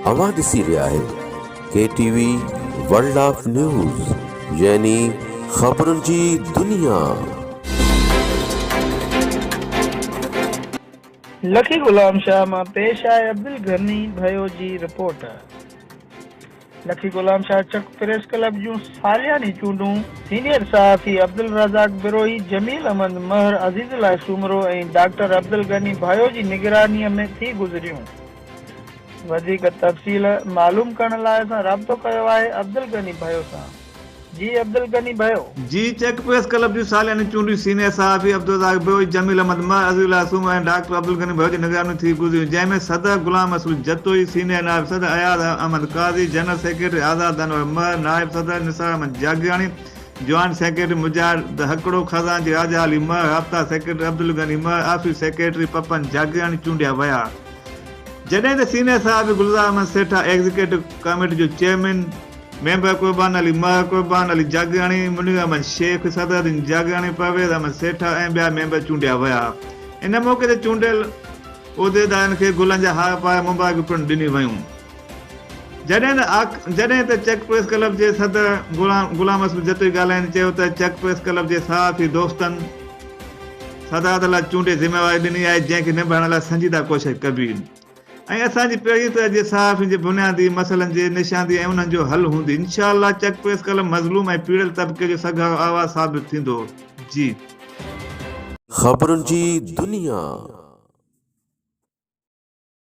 اوهان ڏسي رهيا آهيو K T V world of news يعني خبرن جي دنيا. لکي غلام شاهه مان پيش آهي عبدالغني ڀيو جي رپورٽ. لکي غلام شاهه چڪ پريس ڪلب جون سالياني چونڊون، سينيئر صحافي عبدالرزاق بروهي، جميل احمد مهر، عزيز الله سومرو ۽ ڊاڪٽر عبدالغني ڀائو جي نگرانيء ۾ ٿي گذريون. وڌيڪ تفصيل معلوم ڪرڻ لاء اسان رابطو ڪيو آهي عبدالغني ڀائو سان. جي عبدالغني ڀيو. جي چيڪ پريس ڪلب جون سالياني چونڊون سينيئر صحافي عبدالرزاق ڀيو، جميل احمد مه، عزيز الله سومرو ۽ ڊاڪٽر عبدالغني ڀيو جي نگراني ۾ ٿي گذريون جنهن ۾ صدر غلام رسول جتوئي، سينيئر نائب صدر اياز احمد قاضي، جنرل سيڪريٽري آزاد انور مه، نائب صدر نثار احمد جاگيراڻي، جوائنٽ سيڪريٽري مجاهد هڪڙو، خزانچي راجا علي مه، رابطا سيڪريٽري عبدالغني مه، آفيس سيڪريٽري پپن جاگيراڻي چونڊيا ويا جڏهن ته سينيئر صحافي گلزار احمد سيٺا ايگزيڪيٽو ڪاميٽي جو چيئرمين، ميمبر قربان علي مهر، قربان علي جاگياڻي، منير احمد شيخ، صدر الدين جاگياڻي، پرويز احمد سيٺا ۽ ٻيا ميمبر چونڊيا ويا. ان موقعي تي چونڊيل عهديدارن کي گلن جا هار پاري مبارڪيون پڻ ڏنيون ويون. جڏهن ته آڪ جڏهن ته چڪ پريس ڪلب جي صدر غلام غلام حسن جتوئي ڳالهائيندي چيو ته چڪ پريس ڪلب جي صحافي دوستن صدارت لاء چونڊي ذميواري ڏني آهي جنهن کي نڀائڻ لاء سنجيده ڪوشش ڪبي. ۽ اسان جي پهرين طرح جي صحافين جي بنيادي مسئلن جي نشاندهي ۽ انهن جو حل هوندي انشاء الله چڪ پريس قلم مظلوم ۽ پيڙيل طبقي جو سگهارو آواز ثابت ٿيندو جي. خبرن جي دنيا.